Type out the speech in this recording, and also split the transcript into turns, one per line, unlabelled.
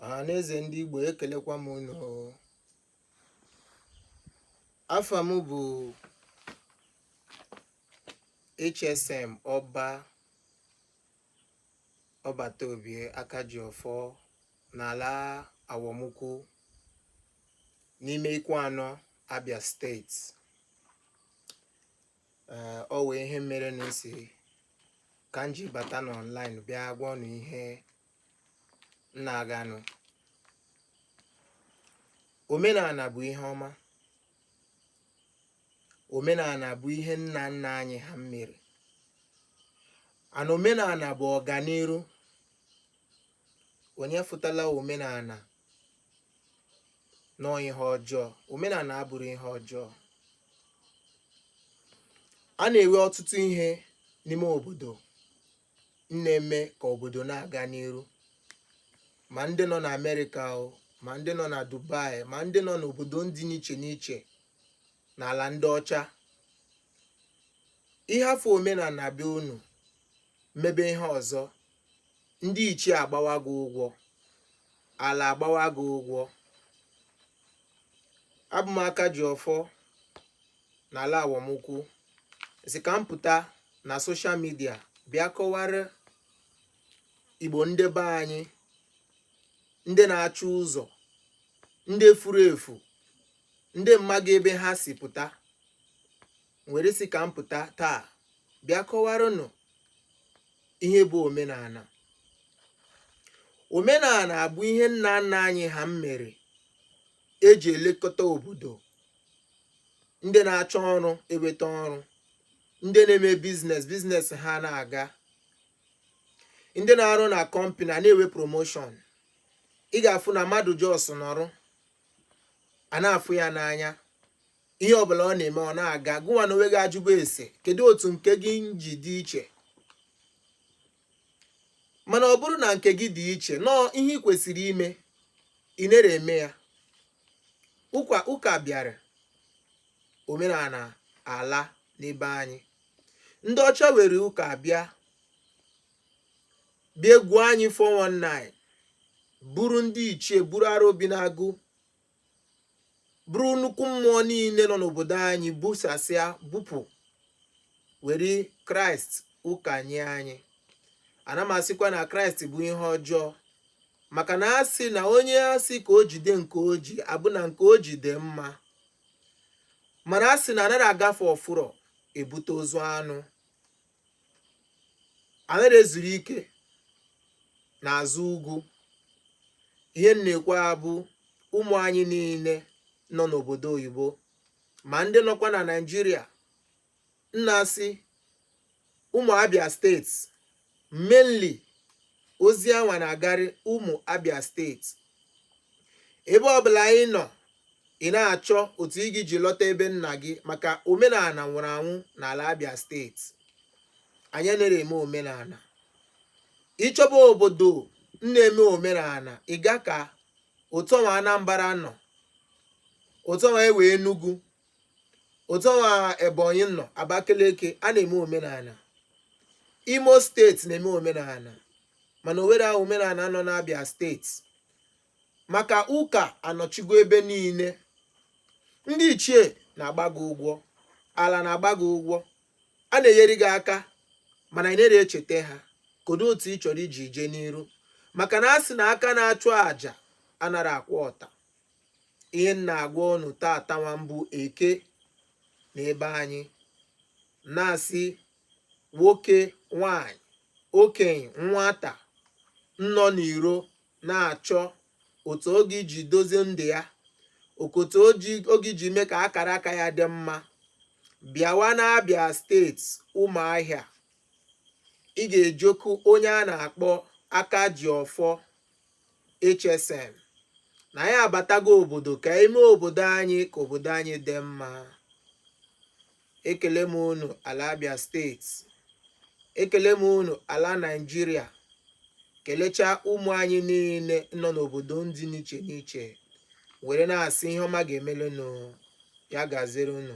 ọhaneze ndị Igbo ekelekwa m unu afa m bụ HSM ọba ọbata obie aka ji ọfọ n'ala awọmụkwụ n'ime Ikwuanọ Abia steeti o nwee ihe mere na m sị ka m ji bata n'ọnlaịn bịa gwa unu ihe na-aganụ omenala bụ ihe ọma omenala bụ ihe nna nna anyị ha mere and omenala bụ ọganiru onye afụtala omenala na ọ ihe ọjọọ omenala abụrọ ihe ọjọọ a na-enwe ọtụtụ ihe n'ime obodo na-eme ka obodo na-aga n'iru ma ndị nọ na amerịka o ma ndị nọ na dubai ma ndị nọ n'obodo ndị n'iche n'iche n'ala ndị ọcha ị hafụ omenala be unu mebe ihe ọzọ ndị ichie agbawa gị ụgwọ ala agbawa gị ụgwọ abụ m aka ji ọfọ n'ala awọmụkwụ sị ka m pụta na soshal midia bịa kọwara igbo ndị be anyị ndị na-achọ ụzọ ndị furu efu ndị amaghị ebe ha si pụta were sị ka m pụta taa bịa kọwaranụ ihe bụ omenala omenala bụ ihe nna nna anyị ha mere e ji elekọta obodo ndị na-achọ ọrụ eweta ọrụ ndị na-eme biznes biznes ha na-aga ndị na-arụ na kọmpani a na-ewe promoshọn ị ga-afụ na mmadụ jos nọrụ a na-afụ ya n'anya ihe ọbụla ọ na-eme ọ na-aga gịwa n'onwe gị ajụba sị kedu otu nke gị ji dị iche mana ọ bụrọ na nke gị dị iche na ọ ihe ị kwesịrị ime ị nere eme ya ụka ụka bịara omenala alaa n'ebe anyị ndị ọcha were ụka bịa bịa gwuo anyị 419 buru ndị ichie buru arọ bi n'agụ buru nnukwu mmụọ niile nọ n'obodo anyị busasịa bupụ were kraịst ụka nye anyị ana m asịkwa na kraịst bụ ihe ọjọọ maka na a sị na onye a sị ka o jide nke o ji abụ na nke o ji dị mma mana a sị na anaghị agafe ọfụrọ ebute ozu anụ anaghị ezuru ike n'azụ ugwu ihe m na-ekwu a bụ ụmụ anyị niile nọ n'obodo oyibo ma ndị nọkwa na Naịjirịa m na-asị ụmụ Abia steeti mainly ozi a nwa na-agarị ụmụ Abia steeti ebe ọbụla ị nọ ị na-achọ otu ị ga-eji lọta ebe nna gị maka omenala nwụrụ anwụ n'ala Abia steeti anyị anaghị eme omenala ị chọba obodo na-eme omenala ị gaa ka otu nwa Anambra nọ otu nwa e nwe Enugu otu nwa Ebonyi nọ Abakeleke a na-eme omenala Imo steeti na-eme omenala mana o nwerọ omenala nọ n'Abia steeti maka ụka anọchigo ebe niile ndị ichie na-agba gị ụgwọ ala na-agba gị ụgwọ a na-enyere gị aka mana ị nara echeta ha kedu otu ị chọrọ iji jee n'iru maka na a sị na aka na-achụ àjà anara akwụ ọta ihe m na-agwa unu tata nwa bụ Eke n'ebe anyị na-asị nwoke nwanyị okenye nwata nọ n'iro na-achọ otu ọ ga-eji dozie ndụ ya okotu ọ ga-eji mee ka akara aka ya dị mma bịawa n'Abia steeti Ụmụahịa ị ga-ejekwu onye a na-akpọ aka ji ọfọ HSM na anyị abatago obodo ka e mee obodo anyị ka obodo anyị dị mma ekele m unu ala Abia steeti ekele m unu ala Naịjirịa kelechaa ụmụ anyị niile nọ n'obodo dị n'iche n'iche were na-asị ihe ọma ga-emere unu ya gaziri unu